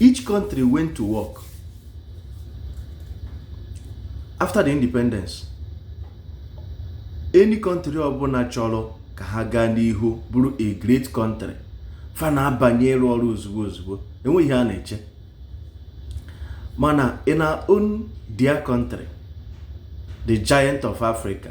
each country went to work after the independence any country ọbụla chọrọ ka ha gaa n'ihu bụrụ a great country fa na-abanye ịrụ ọrụ ozugbo ozugbo enweghị ihe a na-eche mana in our own dear country the giant of africa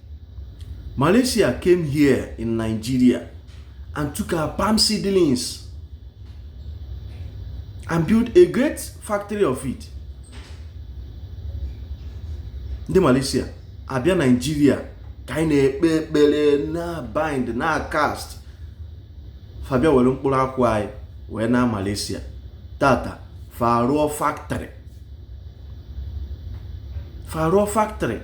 Malaysia came here in Nigeria and took our palm seedlings and built a great factory of it. Ndị Malaysia abịa Nigeria ka anyị na-ekpe ekpere na-abind na-acast fa bịa were mkpụrụ akwụ anyị wee naa Malaysia tata fa rụọ factory fa rụọ factory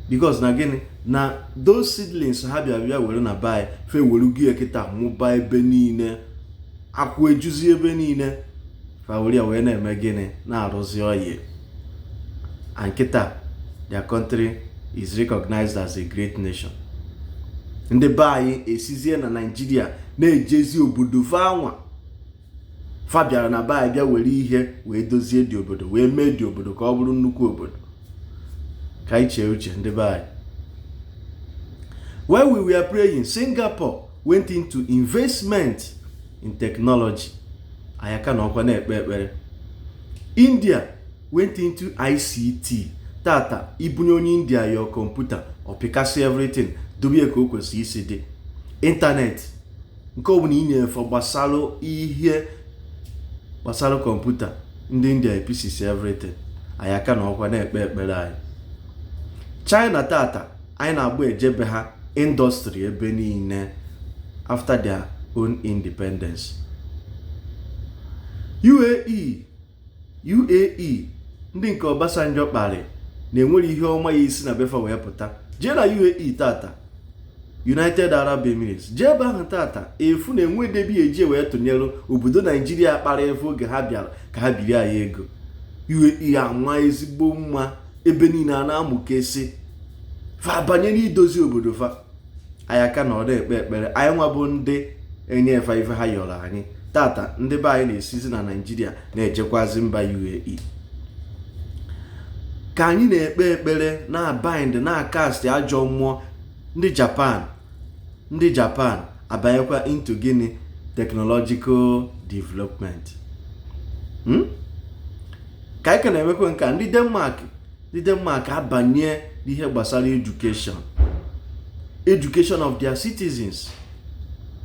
because na gịnị na those seedlings ha bịa bịa were na be anyị fa were ya kịta mụba ebe niile akwụ ejuzi ebe niile fa were ya wee na-eme gịnị na-arụzi oil and kịta their country is recognized as a great nation ndị be anyị esizie na naijiria na-ejezi obodo fa anwa fa bịara na be anyị bịa were ihe wee dozie the obodo wee mee the obodo ka ọ bụrụ nnukwu obodo ka anyị chee uche ndị be anyị while we were praying singapore went into investment in technology anyị aka nọkwa na-ekpe ekpere india went into ict tata i bunye onye india your kọmputa ọ pịkasịa everything dobe ka o kwesịrị isi dị ịntanetị nke ọ bụla i nye fa gbasara ihe gbasara kọmputa ndị india epieces everything anyị aka nọkwa na-ekpe ekpere anyị china tata anyị na-agba eje be ha indọstrị ebe niile after their own independence uae UAE ndị nke Obasanjo kparị na enwerọ ihe ọma ya-esi na be fa wee pụta jee na UAE tata United Arab Emirates jee ebe ahụ tata ị fụ na enweghị ebe e ji wee tụnyere obodo Naijiria kparị fa oge ha bịara ka ha biri anyị ego UAE anwa ezigbo mma ebe niile a na-amụkesị fa banyere idozi obodo fa anyị aka nọ na-ekpe ekpere anyị nwa bụ ndị enyeghị fa ife ha yọrọ anyị tata ndị be anyị na-esizi na naijiria na-ejekwazi mba UAE ka anyị na-ekpe ekpere na-abind na-acast ajọ mmụọ ndị japan ndị japan abanyekwa into gịnị technological development hmm? ka anyị ka na-emekwa nke a ndị denmark ndị Denmark abanye n'ihe gbasara education education of their citizens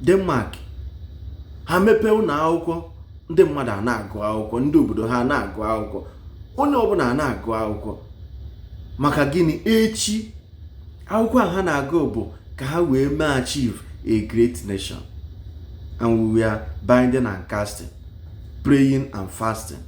Denmark ha mepee ụlọ akwụkwọ ndị mmadụ ana-agụ akwụkwọ ndị obodo ha ana-agụ akwụkwọ onye ọbụla ana-agụ akwụkwọ maka gịnị echi akwụkwọ a ha na-agụ bụ ka ha wee mee achieve a great nation and we were binding and casting praying and fasting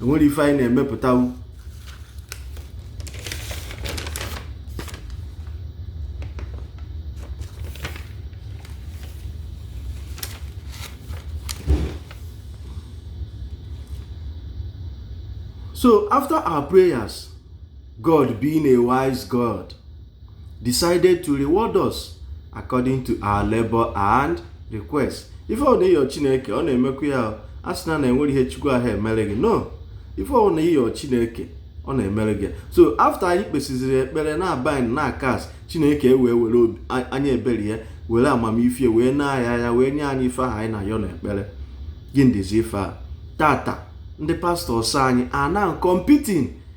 enwerọ ife anyị na-emepụtanwu so after our prayers God being a wise God decided to reward us according to our labor and request ife ọ na ị yọ chineke ọ na-emekwa ya asịna na enwere ihe chukwu aha emere gị no ife ọ na ị yọ chineke ọ na-emere gị so after anyị kpesịziri ekpere na-abind na-acast chineke e wee were anya ebere ya were amamife wee na-aya ya wee nye anyị ife ahụ anyị na-ayọ n'ekpere gị ndịzi ife a tata ndị pastors anyị are now competing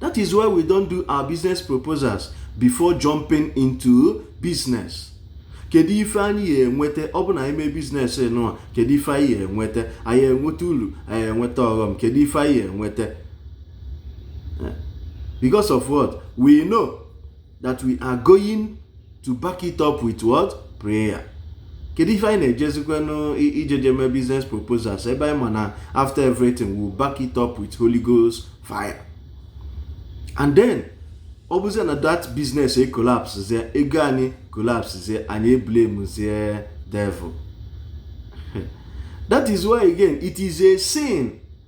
That is why we don't do our business proposals before jumping into business. kedu ife anyị ya enweta ọ bụ na anyị mee business nụwa kedu ife anyị ya enweta anyị enweta ulu anyị enweta ọghọm kedu ife anyị ya enweta eh, because of what we know that we are going to back it up with what prayer kedu ife anyị na-ejezikwanụ ije jee mee business proposals ebe anyị ma na after everything we will back it up with Holy Ghost fire and then ọ bụzie na that business e collapse zie ego anyị e collapse zie anyị e blame zie devil that is why again it is a sin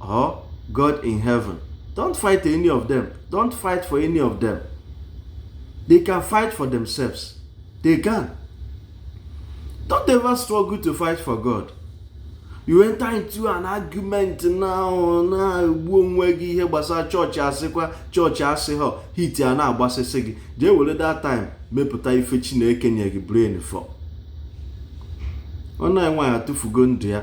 or God in heaven. Don't fight any of them. Don't fight for any of them. They can fight for themselves. They can. Don't ever struggle to fight for God. You enter into an argument now na-egbu onwe gị ihe gbasara chọọchị asịkwa chọọchị asị ha heat ana-agbasịsị gị jee were that time mepụta ife Chineke nye gị brain for ọ na-enwe ya tụfugo ndụ ya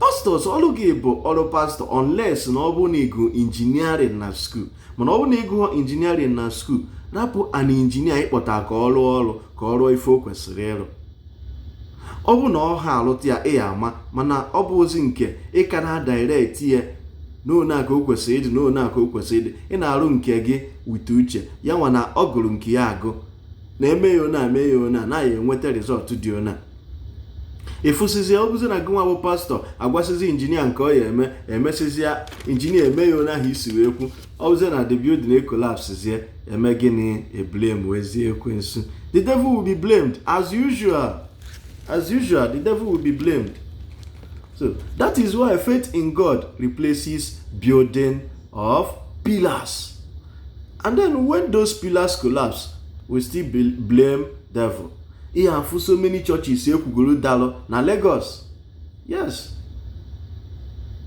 pastors ọrụ gị bụ ọrụ pastor unless na ọ bụ na ị gụ engineering na school mana ọ bụ na ị gụọ engineering na school rapụ an engineer ị kpọta ka ọ rụọ ọrụ ka ọ rụọ ife o kwesịrị ịrụ ọ bụ na ọ ha alụta ya ị ya ama mana ọ bụrọzi nke ị ka na direct ya n'one a ka o kwesịrị ịdị n'one a ka o kwesịrị ịdị ị na-arụ nke gị with uche ya nwa na ọ gụrụ nke ya agụ na e mee ya ona e mee ya ona na ya enweta result dị ona ịfụsịzi ọ bụzi na gị nwa bụ pastọ agwasịzi injinia nke ọ ya eme emesịzi ya injinia eme ya ona ahụ i si wee kwu ọ bụzi na the building ekolapsizie eme gịnị eblemwezie ekwensu the devil will be blamed as usual as usual the devil will be blamed so that is why faith in god replaces building of pillars and then when those pillars collapse we still blame devil ihe afụ so many churches ekwugoro dalụ na Lagos yes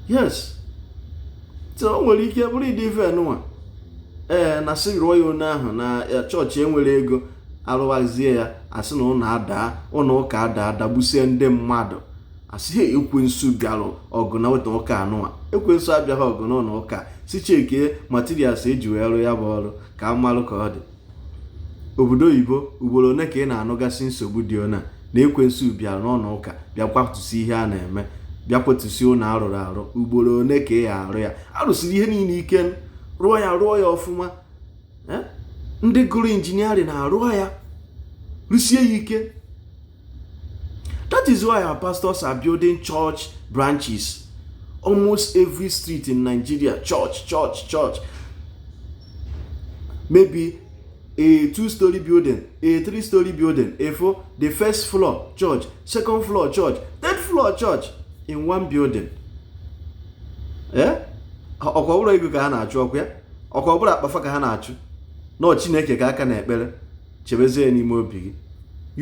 yes so o nwere ike bụrụ ụdị ife nwa ee na sị rụọ ya ona ahụ na chọọchị enwere ego arụwazie ya asị na ụlọ adaa ụlọ ụka adaa dagbusie ndị mmadụ asị ha ekwensu bịara ọgụ na ụlọ ụka anụwa ekwensu abịaghị ọgụ na ụlọ ụka sị chekie materials eji wee rụ ya bụ ọrụ ka a malụ ka ọ dị obodo oyibo ugboro one ka ị na-anụgasị nsogbu dị ona na ekwensu bịara n'ụlọ ụka bịa kwatusi ihe a na-eme bịa kwatusi ụlọ arụrụ arụ ugboro one ka ị arụ ya arụsiri ihe niile ike rụọ ya rụọ ya ọfụma ndị gụrụ injiniarịn arụọ ya rụsie ya ike that is why our pastors are building church branches almost every street in Nigeria church church church maybe a two-story building a three-story building a four the first floor church second floor church third floor church in one building eh? ọkwa ọ bụrụ ego ka ha na-achụ ọkwa ya ọkwa ọ bụrụ akpa fa ka ha na-achụ na ọ chineke ka a ka na-ekpere chebezie ya n'ime obi gị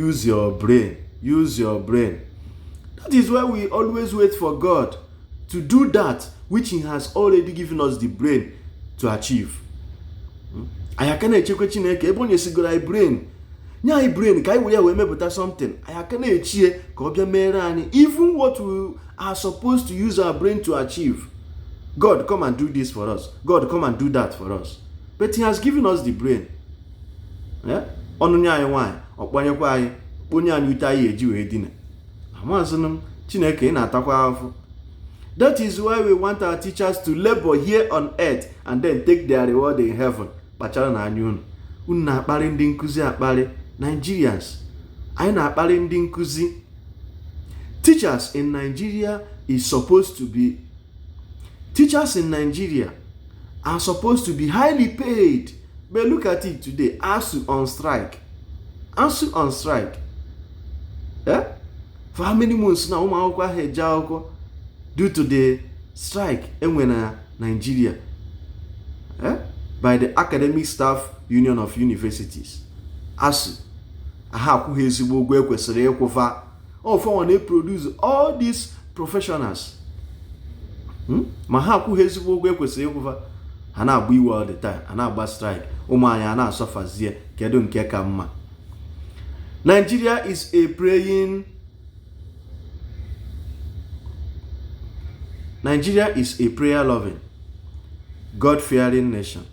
use your brain use your brain that is why we always wait for god to do that which he has already given us the brain to achieve hmm? anyị aka na-echekwa chineke ebe o nyesigoro anyị brain nye anyị brain ka anyị were ya wee mepụta something anyị aka na-echie ka ọ bịa mere anyị even what we are supposed to use our brain to achieve god come and do this for us god come and do that for us but he has given us the brain ọ nụnye anyị nwaanyị ọ kpanyekwa anyị kpanye anyị ute anyị eji wee dina amazịnụ m chineke ị na-atakwa afọ that is why we want our teachers to labor here on earth and then take their reward in heaven kpacharanụ anya unu unu na-akparị ndị nkụzi akparị Nigerians anyị na-akparị ndị nkụzi teachers in Nigeria is supposed to be teachers in Nigeria are supposed to be highly paid but look at it today ASUU on strike ASUU on strike eh? for how many months now ụmụ akwụkwọ aha eje akwụkwọ due to the strike enwe na Nigeria eh? by the Academic Staff Union of Universities ASUU aha akwụ ha ezigbo ụgwọ ekwesịrị ịkwụ fa ọ fanwa na-eproduce all these professionals hmm? ma ha akwụghị ezigbo ụgwọ e kwesịrị ịkwụ fa ha na-agba iwe all the time ha na-agba strike ụmụ anyị a na-asufferzie kedu nke ka mma Nigeria is a praying Nigeria is a prayer loving God fearing nation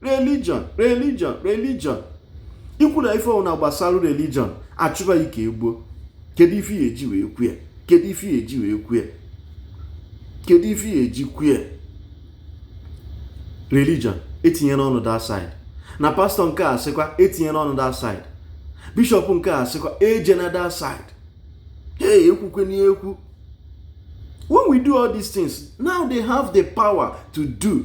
religion religion religion ikwu na ife ọbụla gbasara religion achụba ya ka e gbuo kedu ife ya eji wee kwue kedu ife ya eji wee kwue kedu ife ya eji kwue religion etinyena ọnụ that side na pastor nke a sịkwa etinyena ọnụ that side bishop nke a sịkwa ejena that side hey ekwukwena ekwu when we do all these things now they have the power to do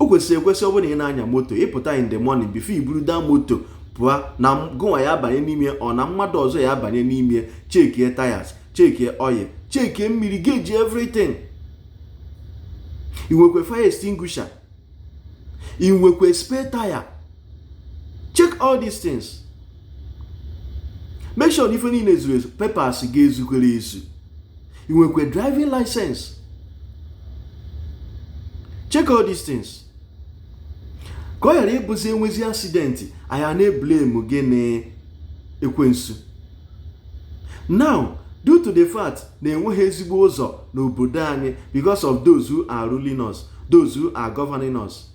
o kwesịrị ekwesị ọ bụrụ na ị na-anya moto ị pụta in the morning before i buru that moto pụọ na gụnwa ya abanye n'ime ọ na mmadụ ọzọ ya abanye n'ime chekie tires chekie oil chekie mmiri gauge everything i nwekwe fire extinguisher i nwekwe spare tire check all these things make sure na ife niile zuru ezu papers ga-ezukwere ezu ị nwekwa driving license check all these things ka ọ ghara ịbụzi e nwezi accident anyị na-eblame gị na ekwensu now due to the fact na enweghị ezigbo ụzọ n'obodo anyị because of those who are ruling us those who are governing us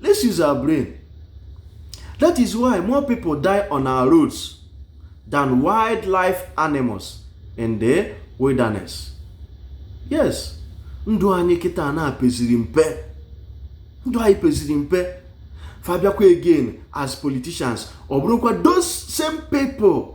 let's use our brain that is why more people die on our roads than wildlife animals in the wilderness yes ndụ anyị kịta na-apeziri mpe ndụ anyị peziri mpe fa bịakwa again as politicians ọ bụrụkwa those same people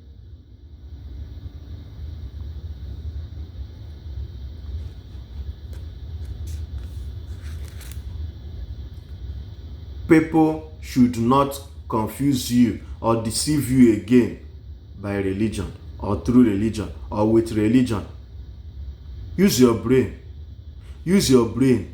people should not confuse you or deceive you again by religion or through religion or with religion use your brain use your brain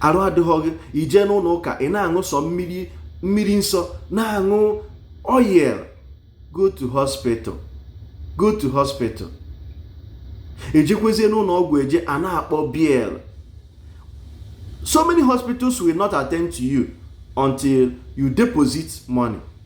arụ adịghị gị i jee n'ụlọ ụka ị na-aṅụ sọ mmiri mmiri nsọ na-aṅụ oil go to hospital go to hospital e jekwezie n'ụlọ ọgwụ eje a na-akpọ bill so many hospitals will not attend to you until you deposit money